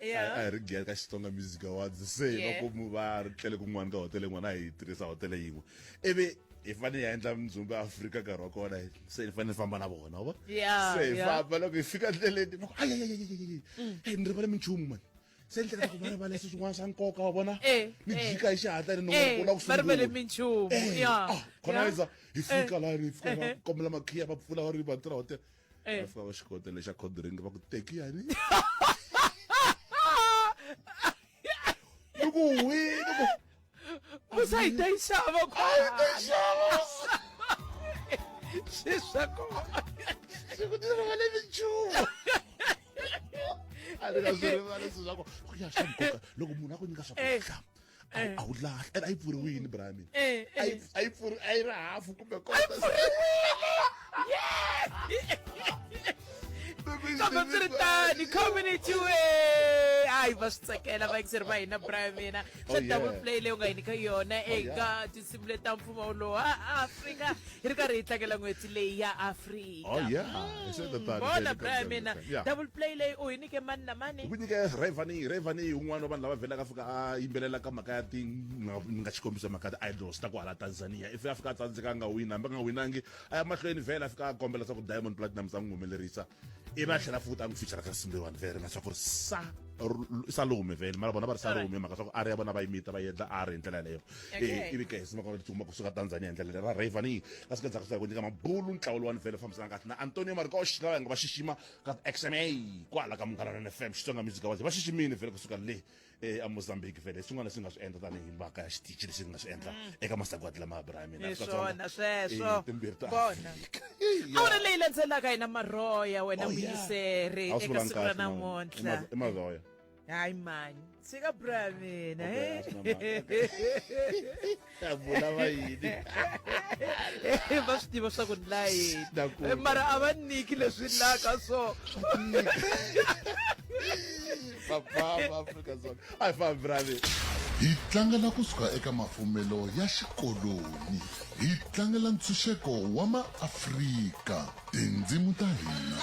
Yeah. a hi ri gere ka xitsonga music awards se Yeah. va komu va ri tlele kun'wana ka hotele yin'wana a hi tirhisa hotele yin'we ivi hi fanele hi ya endla mindzumba ya afrika nkarhi wa kona se hi fanele hi famba na vona wa Yeah, se hi yeah. famba loko hi fika ndleleni va ku ayayayayayay hey ni rivale minchumu mani se ni hleketa ku va rivala leswi swin'wana swa nkoka wa vona Eh, ni eh. jika hi xihatla ni Eh, nongola ku va rivele sungula. minchumu, Eh, yeah, ah, khona yeah. iza hi fika laha ni fika va kombela makhiya va pfula va ri va tirha hotela eh. va fika va xi kota lexa cold drink va ku teki yani loko wi loko musa yi ta yi xava ku yi ta yi xava swi swa ku swi ku tirha va le minchumu a ri ka swi rivala swi swa ku ku ya swa nkoka loko munhu a ku nyika swakudya eh. Eh. a wu lahli ene a yi pfuriwile brami Eh, a yi eh. a yi pfuri a yi ri hafu kumbe kambe swi ri tani community we hayi va swi tsakela vayingiseri va hina brian mina Oh, swa yeah. double play leyi u nga hi nyika yona yeah. eka tinsimu leti ta mfumo wolowo a afrika hi ri karhi hi tlangela n'hweti leyi ya afrika ita Oh, yeah. Mm. It's at the third Bona day, brother mina sometimes. Yeah. double play leyi u hi nike mani na mani ku nyike revani revani un'wana wa vanhu lava vhelaka a fika a yimbelela ka mhaka ya ti nga- ni nga xikombiso mhaka ya ti-idols ta ku hala tanzania if a fika a tsandzeka a nga wini hambi a nga winangi a ya mahlweni vhela a fika a kombela swa ku diamond platinum za n'wi humelerisa ivi a tlhela futa a n'wi fichara ka simbiwani vele na swa ku ri sa ru- salume vele mara vona va ri salume mhaka swa ku ari ya vona va yimita va yendla ari hi ndlela yaleyo e ivi ke hi simeka ri tsutsuma kusuka tanzania hi ndlela lera rayvani kasi ka ndzhaku swa ku nyika mabulu ntlawa lowani vhele fambisana kahle na antonio marcos lava hi nga va xixima ka xma kwala ka munghana na fm xitsonga music awards va xiximile vhele kusuka le emozambique vhele swin'wana leswi nga swi endla tanihi mhaka ya xitichi lexi nga swi endla eka masagwadi lama ya bra ya mina swona sweswo timbirhi ta kona awara leyi landzelaka hina marhoya wena muyiseri eka siku ra namuntlha i marhoya hayi mani tshika bra mina Okay, asina mhaka. Ta vula va yini Eh, va swi tiva swa ku ni la yini Na ku- Eh, mara a va niki leswi laka so papa va afrika dzonga a hi fambi ra mina hi tlangela kusuka eka mafumelo ya xikoloni hi tlangela ntshunxeko wa maafrika tindzimu ta hina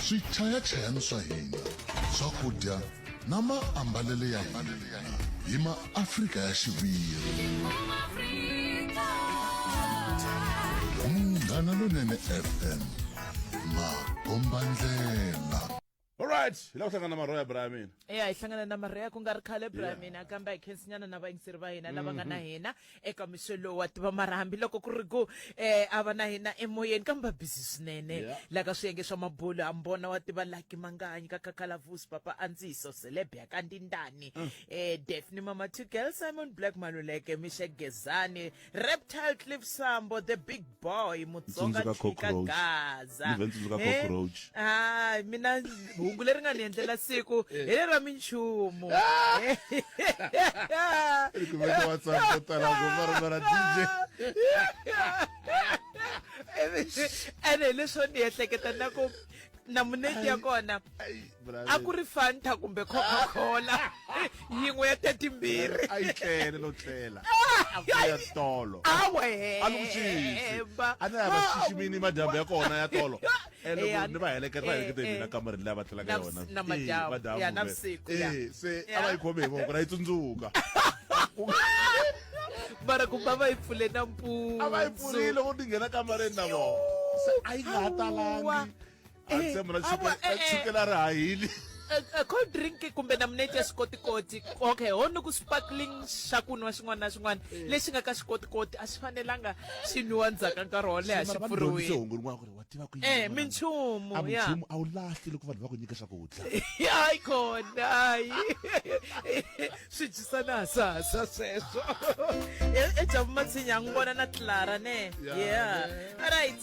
swichayachayani swa hina swakudya na maambalele ya hina hi maafrika ya xiviri munghana lonene fm makombandlela alright hi lava hlangana marhoya bra ya mina ya hi hlangana na marhoya ku nga ri khale bra ya mina kambe hi khensinyana na vayingiseri va hina lava nga na mhm. hina eka mixo lowu wa tiva mara hambiloko ku ri ku um a va na hina emoyeni kambe va busy swinene la ka swiyenge swa mabulu a mbona wa tiva laki manganyi ka kakalavusi papa andziso selebya ka ndindani um mm. eh, defni mama two girl simon black maluleke mixe gezani Reptile Cliff Sambo the big boy Mutsonga Chika Gaza. Eh? Ah, mina hungu leri nga ni endlela siku eh. hi ra minchumu. Ah! Eh. Kumeka WhatsApp ko tala ku marmara DJ. Ene leswo ni ehleketa na ku na muneti ya kona a ku ri fanta kumbe coca cola yin'we ya tetimbirhi a yi tlele no tlela a ku ya tolo a ni kuxisi a ni lava xiximini madyambu ya kona ya tolo eh, loko ni va heleketa va eh, heleketa mina eh. kamareni leyi va tlelaka yona madyambu se a va yi khome hi voko ra yi tsundzuka mara ku ba va yi pfule na mpfula a va yi pfurile u tingena kamareni na vona se a yi nga ha talangi a Eh, ntshembo na a chukela wa- eh, na eh. chukela ri hahili Eh, eh, cold drink kumbe namuneti ya xikotikoti okay ho ni ku sparkling xa ku nwa xin'wana na xin'wana lexi nga ka xikotikoti a xi fanelanga xi nwiwa ndzhaku ka nkarhi wo leha xi Mara va ndzi dyondzise pfuriwile hungu rin'wana ku ri wa tiva ku yini Eh, n'wananga? minchumu, A ya. minchumu a wu lahli loko vanhu va ku nyika swakudya hayi kona hayi swi dyisana hasahasa sweswo E- ejavumatsinya a n'wi vona na clara ne Yeah, yeah ne. right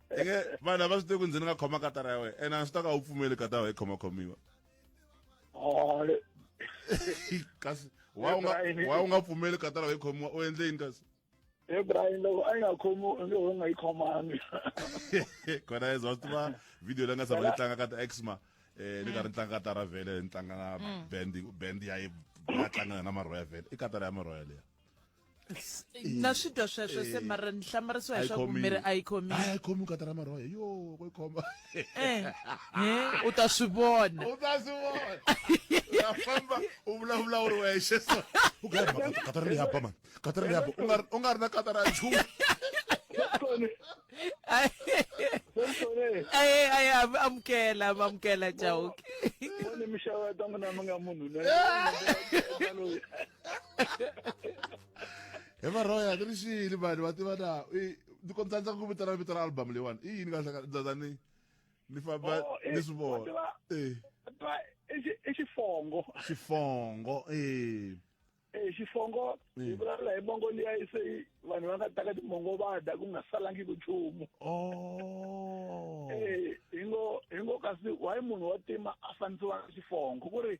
eke vanhu lava swi tivi ku ndzi ni nga khoma katara ya wena ene a swi ta ka u pfumeli katara yi khoma khomiwa kasi wa u nga pfumeli katara yi khomiwa u endle yini kasi e brian loko a yi nga khomi u nge u nga yi khomangi kona yeza wa swi tiva video leyi nga sava yi tlanga ka ta exma um ni karhi ni tlanga ka tara vhele ni tlanga na mm. band band ya yi ya tlangana na marhoya vhele i katara ya marhoya leya na swi twa sweswo se mara ni hlamarisiwa hi swaku miri a yi khomi a yi khomi katara maroya yo ku yi khoma eh, eh, u ta swi vona u ta swi vona ya famba u vulavula u ri wexe so u ka katara leyi haba mani katara leyi haba u nga ri na katara ya nchumu aye amukela amukela jauke mixava ta munhu na mi nga munhu he varhoya ni ri xiyini vanhu va tiva na ni kombisa ndza ku vitana vito ra album leyiwani i yini kahlakaza ni ni famba oh, eh, ni swi vona eh. i xifongo xifongo eh eh xifongo hi mm. vulavula hi mongo liya se vanhu va nga taka timongo va dya ku nga salangi ku nchumu oh. eh hi ngo hi ngo kasi why munhu wa tima a fanisiwa xifongo ku ri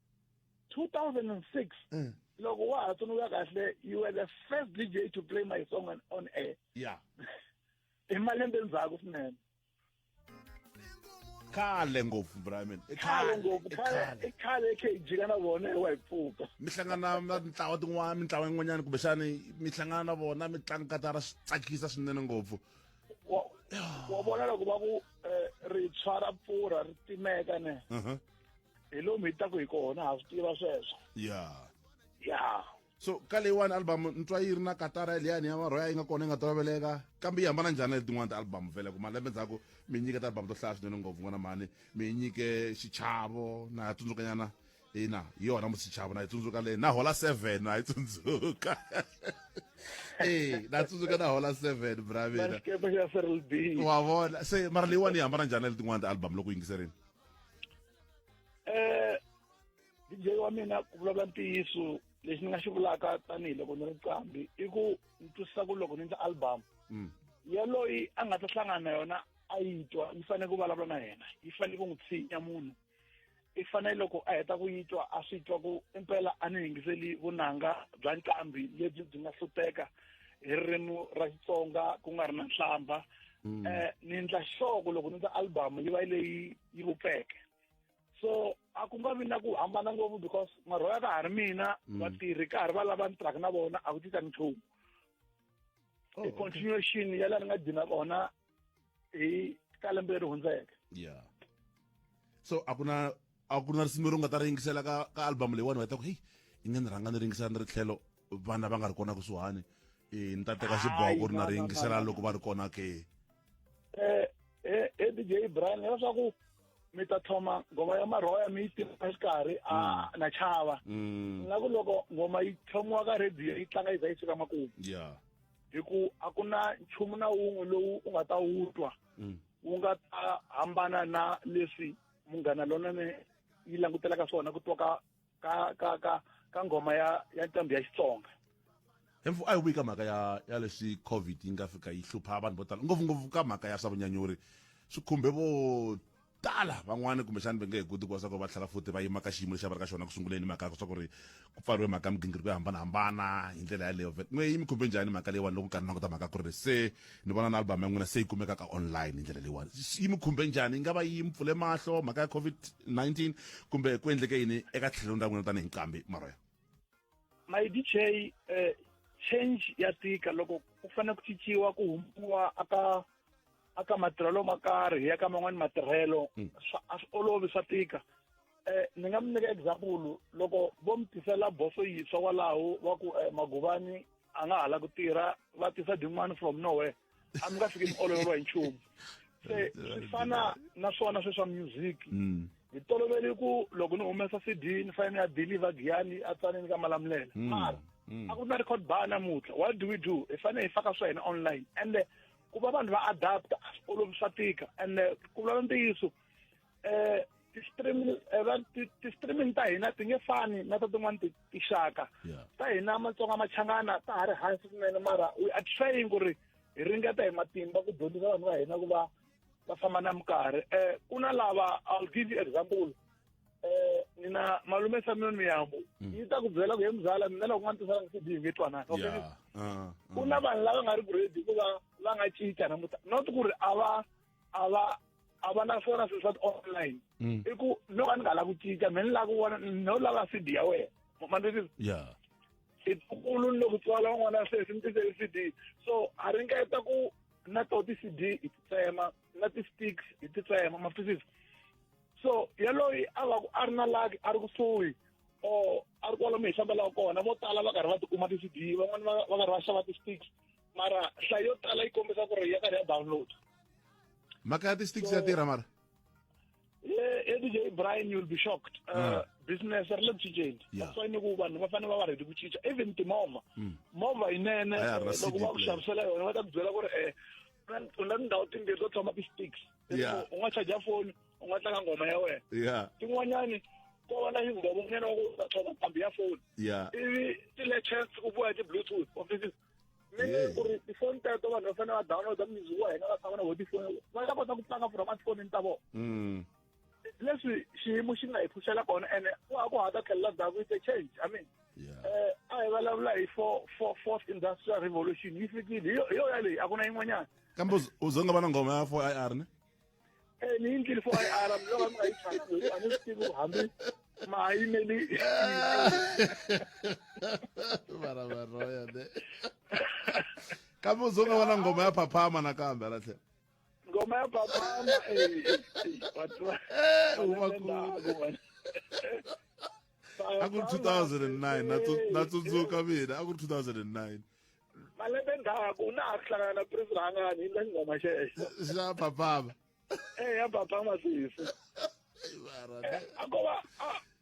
2006 mm. loko wa ha tsundzuka kahle you were the first dj to play my song on, on air yeah i malembe ndzhaku swinene khale ngopfu brian khale ngopfu khale khale kg kana vona wa hi pfuka mi hlangana na mintlawa tin'wana mintlawa yin'wanyana kumbexani mi hlangana na vona mi tlanga katara swi tsakisa swinene ngopfu wa vona loko va ku eh, ri tshwara pfurha ri timeka ne uh-huh. hi lomu hi taku hi kona ha swi tiva sweswo ya ya so ka leyiwani album ni twa yi ri na katara liyani ya marhoya yi nga kona yi nga toloveleka kambe yi hambana njhani na letin'wana ti-album vele ku malembe ndzhaku mi nyike ti-album to hlaya swinene ngopfu n'wana mhani mi nyike xichavo na ya tsundzukanyana ina hi yona musichavo na yi tsundzuka leyi na hola seven na yi tsundzuka e na tsundzuka na hola seven bravina wa vona se mara leyiwani yi hambana njhani na letin'wana ti-album loko yingiserini eh DJ wa mina ku vulavula ntiyiso lexi ni nga xi vulaka tanihiloko ni ri qambi i ku ni twisisa ku loko ni ndla album mm. yaloyi a nga ta hlangana na yona a yi twa yi fanele ku vulavula na yena yi fanele ku n'wi tshinya munhu i fanele loko a heta ku yi twa a swi twa ku impela a ni yingiseli vunanga bya nqambi lebyi byi nga hluteka hi ririmi ra xitsonga ku nga ri na nhlamba um ni endla xoko loko ni ta album yi va leyi yi vupfeke so a ku nga vi na ku hambana ngopfu because marhoya ka ha ri mina mm. vatirhi ka ha ri va lava ni tirhaka na vona a ku tisa nchumu oh, i continuation ya laha ni nga dina vona hi ka lembe leri hundzeke yeah so a ku na a ku na risimu leri u nga ta ri yingisela ka ka album leyiwani u heta ku heyi i nge ni rhanga ni ringisela ni ri tlhelo vana va nga ri kona kusuhani e ni ta teka xiboko ri na ri yingisela loko va ri kona ke eh, eh, e dj brian leswaku mi ta thoma ngoma ya marhoya mi yi tirha exikarhi a mm. na chava mm. nga ku loko ngoma yi tlhomiwa ka radio yi tlanga yi za yi suka makumu yeah hi ku a ku na nchumu na wun'we lowu u nga ta wu twa mm. wu nga ta hambana na leswi munghana lonene yi langutelaka swona ku twa ka ka ka ka ka nghoma ya ya ntambi ya xitsonga hemfu a yi vuyi ka mhaka ya ya leswi covid yi nga fika yi hlupha vanhu vo tala ngopfungopfu ka mhaka ya swa vunyanyuri swi khumbe vo tala van'wani kumbexani va nge he koti ku va swa ku va tlhela futhi va yima ka xiyimo lexi a va ri ka xona ku sunguleni mhaka swa ku ri ku pfariwe mhaka ya migingiriko yo hambanahambana hi ndlela yaleyo n'we yi mi khumbe njhani mhaka leyiwani loko nkarhi na kota mhaka ku ri se ni vona na album ya n'wina se yi kumeka ka online hi ndlela leyiwani yi mi khumbe njhani yi nga va yi mi pfule mahlo mhaka ya covid-19 kumbe ku endleke yini eka tlhelweni ra n'wina tanihi nqambi maroya my dj eh, change ya tika loko ku fanele ku cinciwa ku humpiwa aka a ka matirhelo ma karhi ya ka man'wani matirhelo mm. a swi olovi swa tika um ni nga mi nyika example loko vo mi tisela boso yintshwa kwalaho wa ku um maguvani a nga hala ku tirha va tisa din'wani from nowhere a mi nga fiki mi ololeriwa hi nchumu se swi fana na swona sweswa music mm. hi toloveli ku loko ni humesa cd ni fanele ni ya deliver giyani a tsaneni ka malamulela mm. mara mm. a ku na record bar namuntlha what do we do hi fanele hi faka swa hina online ende ku va vanhu va adapta a swi olovi swa tika and eh, ku vula ntiyiso um ti-streaming eh, ti-streaming ta hina ti nge fani na ta tin'wana tixaka ta hina matsonga machangana ta ha ri hansi swinene mara we are trying ku ri hi ringeta hi matimba ku dyondzisa vanhu va hina ku va va famba na minkarhi um ku na lava i'll give you example eh nina malume Samuel Miyambo hmm. yi ta ku byela ku he muzala mina loko nga ntisanga CD hi nge twanana okay ah, ah. ku na vanhu lava nga ri ku ready hikuva va nga cinca namuta not ku ri a va a va a va na swona swilo swa ti-online hmm. i ku no ka ni nga la ku cinca mina ni la ku vona no lava CD ya wena mandisisi yeah itukulu ni loko tswala n'wana sweswi ni tisele CD so a ringeta ku na to ti-CD hi ti tsema na ti-sticks hi ti tsema ma twisisa so yaloyi a va ku a ri na laki a ri kusuhi or a ri kwalomu hi fambelaka kona vo tala va karhi va tikuma ti-cd van'wani va va karhi va xava ti-sticks mara hlayo yo tala yi kombisa ku ri ya karhi ya download mhaka ya ti-sticks ya tirha mara edj brian you'll be shocked uh, ah. business ri le ku cinceni that's why ni ku vanhu va fanele va va ready ku cinca even timovha hmm. movha yinene loko va ku xavisela yona va ta ku byela ku ri um u na tindhawu timbirhi to tshama ti-sticks Yeah. u nga chaja foni u nga tlanga ngoma ya wena yeah tin'wanyani ko va na xingovo nyana wa ku u ta tshova ntambi ya foni yeah ivi ti-latest ku boha ti-bluetooth offices mi nge Hey. ku ri tifoni teto vanhu va fanele va downloada music wa hina va tshama na vo tifoni va ta kota ku tlanga from atifonini ta vona mm leswi xiyimo xi nga hi pfuxela kona ene wa ha ku ha ta tlhelela ndzhaku it's a change i mean Yeah. eh a hi vulavula hi four four fourth industrial revolution yi fikile hi yo- hi yona leyi a ku na yin'wanyana kambe uz- uze nga va na nghoma ya 4 ir ne Eh, ni yindlile four i r mloko mi nga yi chati loko a ni swi tivi ku hambi ma ha yimeli vana va roya ne kambe uze nga va na nghoma ya phaphama nakambe hala tlhelo ngoma ya babama a ku ri 2009 natsundzuka mina a ku ri 2009 malembe ndzhaku na ha ku hlangana na prince rhangani yi nga xingoma xexo xa babama e ya babama sisi a ko va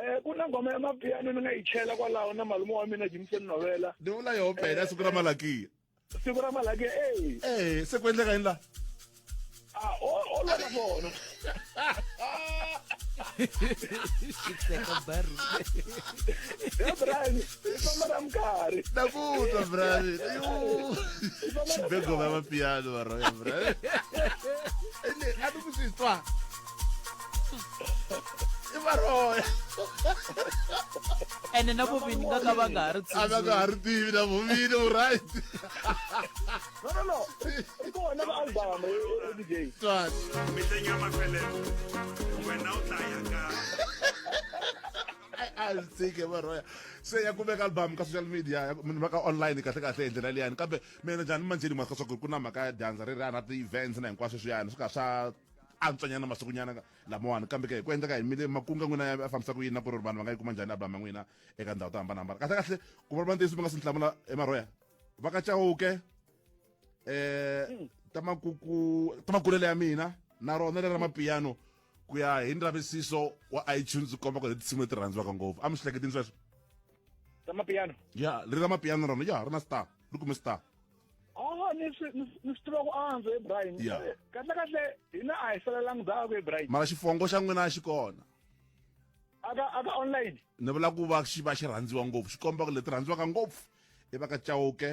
Eh ku na ngoma ya mapiano ni nga yi chela kwalaho na malume wa mina Jimson Novela. Ni vula yo bela eh, siku ra malakiya. Siku ra malakiya eh. Eh se ku endleka yini la? Ah o o la ka vona. Xitseka baru. Ya Brian, ifamba ra mkarhi. Nakutwa Brian. Xibego va mapiano va roya Brian. Ene a ni ku swi twa. i varoya ene na vuvini nga ka va nga ha ri a va nga ha ri tivi na vuvini u right no no no i kona va album dj twat mihlenyama pele wena u tlaya ka a swi tshike varoya se ya kumeka album ka social media munhu va ka online kahle kahle hi ndlela liyani kambe mina njhani manjeni mhaka swa ku ri ku na mhaka ya dyandza ri ri a na ti-events na hinkwaswo swiyani swi ka swa antswanyana masikunyana lamawani kambe ke hi ku endleka hi mile makunga n'wina ya fambisa ku yini na ku ri vanhu va nga yi kuma njhani album ya n'wina eka ndhawu to hambanahambana kahle kahle ku va va ntiyiso mi nga swi hlamula emarhoya va ka chawuke eh hmm. ta makuku ta makulele ya mina na rona leri ra mapiano ku ya hi ndzavisiso wa iTunes komba ku tinsimu leti rhandziwaka ngopfu a mi swi hleketini sweswo ta mapiano ya leri ra mapiano rona ya ri na star ri kume star Oh, ni swi ni swi tiva ku antswa Ibrahim. Yeah. Eh, Kahle kahle hina a hi felelangi ndhawu ku Ibrahim. mara xifongo xa n'wina a xi kona Aka aka online. ni vula ku va xi va xi rhandziwa ngopfu xi komba ku leti rhandziwaka ngopfu i va ka chauke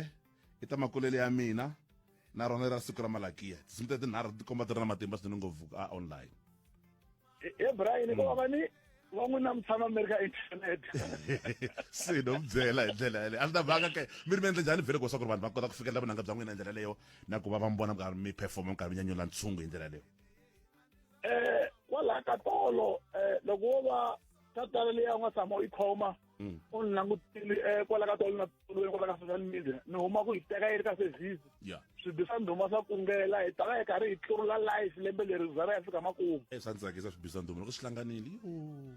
i ta makulele ya mina na rona ra siku ra malakiya tinsimu ta tinharhu ti komba ti ri na matimba swinene ngopfu a online e brian ko va ni va n'wi na mutshama mi ri ka internet se no mi byela hi ndlela yaleyo a swi ta vanga ke mi ri mi endle njhani vhele kosa ku ri vanhu va kota ku fikelela vunanga bya n'wina hi ndlela leyo na ku va va mi vona mikarhi mi performa mikarhi mi nyanyula ntshungu hi ndlela leyo um kwalaha ka tolo um loko wo va tatala leyi a nga tshama u yi khoma mm. u ni langutile eh, kwala ka tolo na tolo kwala ka social media ni huma ku hi teka yi ri ka service swibi swa ndhuma swa kungela hi tava hi karhi hi tlurula life lembe leri za ra ya fika makumu eh, swa ndzi tsakisa swibi swa ndhuma loko swi hlanganile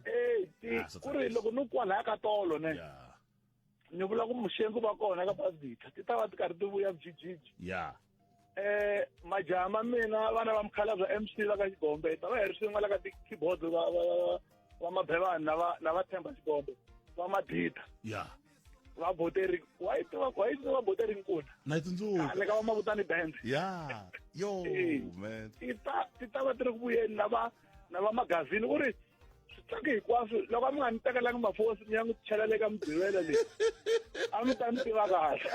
e ah, ku ri loko ni kwalaya ka tolo ne ni vula ku muxengu va kona ka basita ti ta va ti karhi ti vuya vujijiji ya yeah. eh majaha ma mina vana va mukhalabya mc va ka xigombe ta va hi ri swin'we la ka ti-keyboard va va va- va mabhevani na va na va themba xigombe va madida ya va boteri wa yi tiva wa yi tiva boteri nkuna na yi ni tsundzuka ka va mavutani band ya yo Eh. man ti ta ti ta va ti ri ku vuyeni na va na va magazini u ri switlangi hinkwaswo loko a mi nga ni tekelanga mafosi mi ya n'wi cheleleka mugqivela leyi a mi ta ni tiva kahle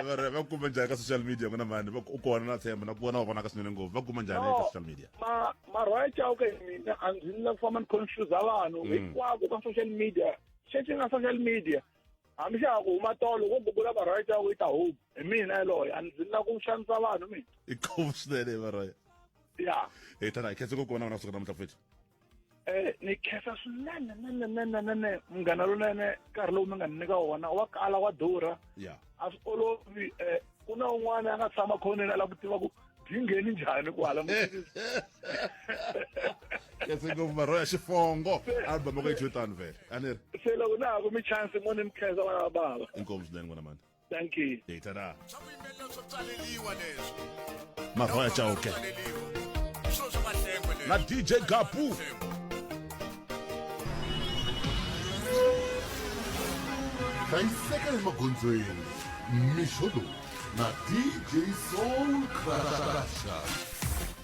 vare va kuma njhani ka social media n'wina mani u kona na tshemba na ku vona va vonaka swinene ngopfu va kuma njhani ka social media marhwaya chauke hi mina a ndzi ni la ku famba ni confuse vanhu mm. hinkwako ka social media xexi nga social media hambi xa ha ku huma tolo wo gugula marhwaya chauke yi ta home hi mina yaloye a ndzi ni la ku xanisa vanhu mina i khombo swinene marhwaya ya e tana hi khetse ku kona wena kusuka namuntlha futhi um ni khensa swinene nenenenenene munghana lonene nkarhi lowu mi nga ni nyika wona wa kala wa durha ya a swi olovi um ku na un'wana a nga tshama khoneni a lava ku tiva ku byi ngheni njhani kwala khense ngopfu marho ya xifongo album ku yi tani vele a ni ri se loko na ha kumi chance mo ni mi khensa vana va bava inkomu swinene n'wana mani thank you data da swa vuyimbelela swo psaleliwa leswi marhoya chauke psaleliwa swo swa mahlengo leswi na dj gapu hlayiseka emagondzweni mixo lowu na dj soul crasha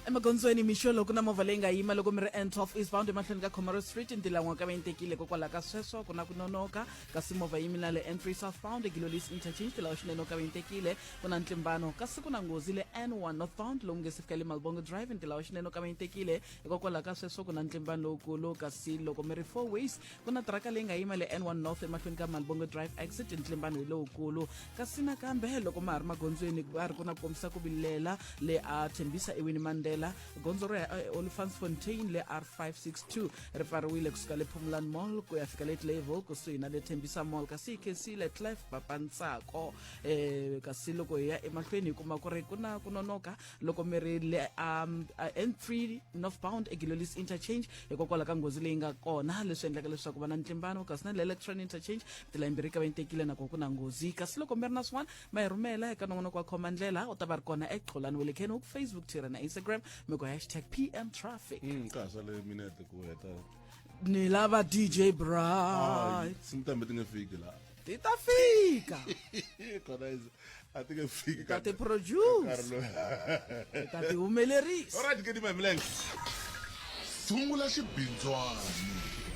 emagondzweni mixo loko na movha leyi nga yima loko mi ri n12 eastbound emahlweni ka commerce street ntilan'wa ka va yi tekile kokwalaho ka sweswo ku na ku nonoka kasi movha yimi na le n3 southbound egilolis interchange tilawa swinene u kaventekile ku na ntlimbano kasi ku na nghozi le n1 northbound lomu nge si fika le malbongo drive ntilawa swinene u kaventekile hikokwalaho ka sweswo ku na ntlimbano lowukulu kasi loko mi ri four ways ku na tiraka leyi nga yima le n1 north emahlweni ka malbongo drive exit ntlimbano hi lowukulu kasi nakambe loko ma ha ri magondzweni ku va ri ku na ku kombisa ku vilela le a thembisa ewini mandela gondzo ra eh, olifantsfontein le r562 ri pfariwile kusuka le phumulani mall ku ya fika le clayville kusuhi na le thembisa mall kasi ckc le clef papantsako eh, kasi loko hi ya emahlweni hi kuma ku ri ku na ku nonoka loko mi ri le um, uh, n3 northbound egilolis interchange hikokwalaho ka nghozi leyi nga kona leswi endlaka leswaku va na ntlimbano kasi na le electron interchange tilayimbirhi ka va yi tekile nakona ku na nghozi kasi loko mi ri na swin'wana ma hi rhumela eka nongonoko wa khoma ndlela u ta va ri kona exolani wa le khenok facebook twitter na instagram mi ku hashtag pm traffic Mm, ka ha sale minete ku heta ni lava dj Ay, bright simtambe ti nga fiki la ti ta fika kona is- a ti nga fiki ta ti produce Carlo. ti ta ti humelerisa Alright, ke di my milenge. sungula xibindzwana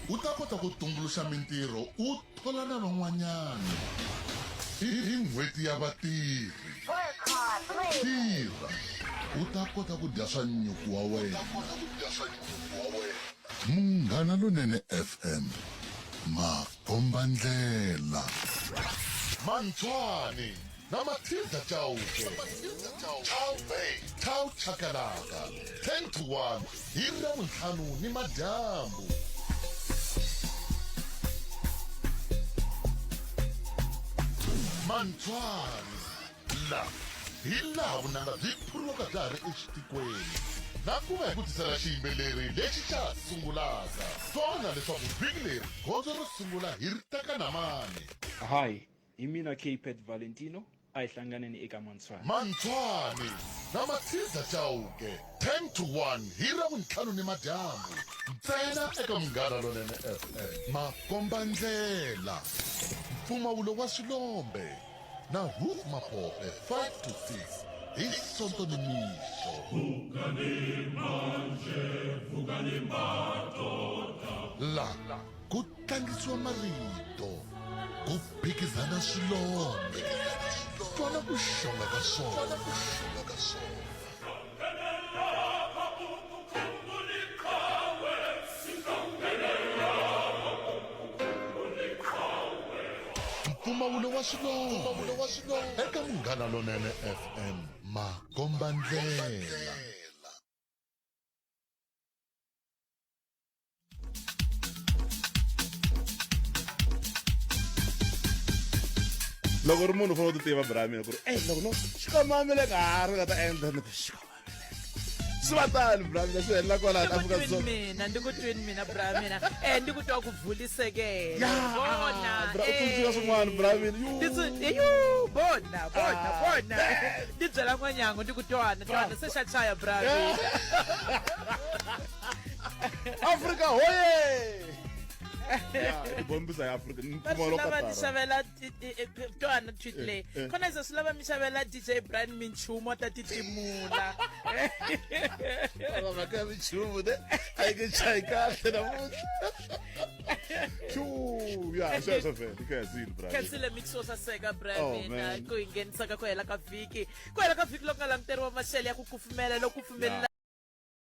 u ta kota ku tumbuluxa mintirho u Bula na van'wanyana hi hi N'hweti ya Vatirhi. Tirha u ta kota ku dya swa nyuku wa wena. Munghana Lonene FM, makombandlela. Mantshwani, na matilda chauke chauke chau chakalaka 10 to 1 hi ravuntlhanu ni madyambu mantswari la hi laha vunanga byi phuriwaka bya ha ri exitikweni na ku va hi ku tisela xiyimbeleri lexi xa ha sungulaka twana leswaku vhiki leri gondzo ro sungula hi ri teka na mani Hi, Hi mina Capet Valentino, a hi hlanganeni eka Mantshwani. Mantshwani na Matshiza Chauke, 10 to 1 hi Ravuntlhanu nimadyambu ntsena eka Munghana Lonene FM. Makombandlela, Mpfumawulo wa Swilombe na Huuh Mapope, 5 to 6 hi Sonto nimixo. La. ku tlangisiwa marito ku phikizana swilondhe fana ku xonga ka swona mpfumawulo wa swilondhe eka munghana lonene fm makombandlela loko ri munhu u fanele u ti tiva bramina ku ri ey loko no xikomamileka ha ri nga ta endla ni xikomamileka swi va tani bramina swi helela kwalani afrika dzonga mina ndi ku twini mina bramina e eh, ndi ku twa ku vulisekela bona tsundzuka eh. swin'wana bramina yu bona bona ah, bona ndi byela n'wanyango ndi ku twana twana se xa chaya bramina afrika hoye bombisa ya afrika vasilava mi xavela twana tweet leyi khona izo silava mi xavela dj brian minchumu ta titimula vaka minchumu de a yi nge chayi kahle namuntlha ya sweswo vele khazile bra khazile mix wo saseka bra mina ku hi nghenisaka ku hela ka vhiki ku hela ka vhiki loko nga languteriwa maxele ya ku kufumela loko kufumelela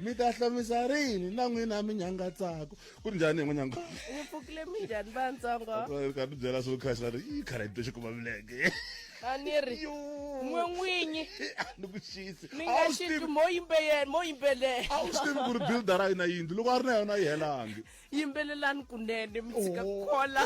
mi ta hlomisa rini na n'wina mi nyangatsako ku njhani hi n'wi nyanga mi pfukile minjhani vantsongo ka ti byela swo khasi va ri yi khala yi to xi kuma milenge a ni ri n'we n'winyi a ni ku xisi mi nga xi mo yimbelela mo yimbelela a wu swi tivi ku ri buildara yi na yindlu loko a ri na yona yi helangi yimbelelani kunene mi tshika ku khola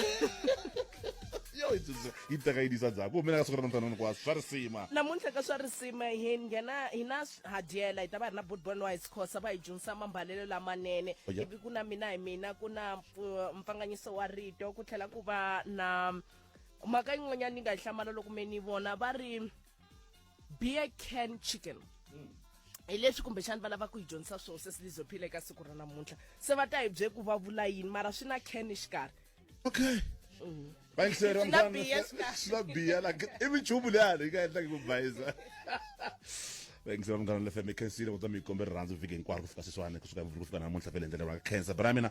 yo yi tsundzu- yi teka yi disa dzaku mina ka siku ra namuntlha hinkwaswo swa risima namuntlha ka swa risima hi nghena hi na s- hadyela hi ta va hi ri na bootbon wise khosa va hi dyondzisa mambalelo lamanene Oh, yeah. ivi ku na mina hi mina ku na mpfu- mpfanganyiso wa rito ku tlhela ku va na mhaka yin'wanyana ni nga yi hlamala loko me ni vona va ri beer can chicken mm. hi leswi kumbexani va lava ku hi dyondzisa swona se silizophile eka siku ra namuntlha se va ta hi bye ku va vula yini mara swi na can exikarhi okay mm. bayingiserisila biya la i minchumu leyi hali yi nga endlaki ku bayisa vayingisela munghana lefm i khensile kutwa mi yi kombe rirhandzu vhiki hinkwaro ku fika sweswiwani kusuka mvuli ku fika namuntlha vele endlela ra khensa bra mina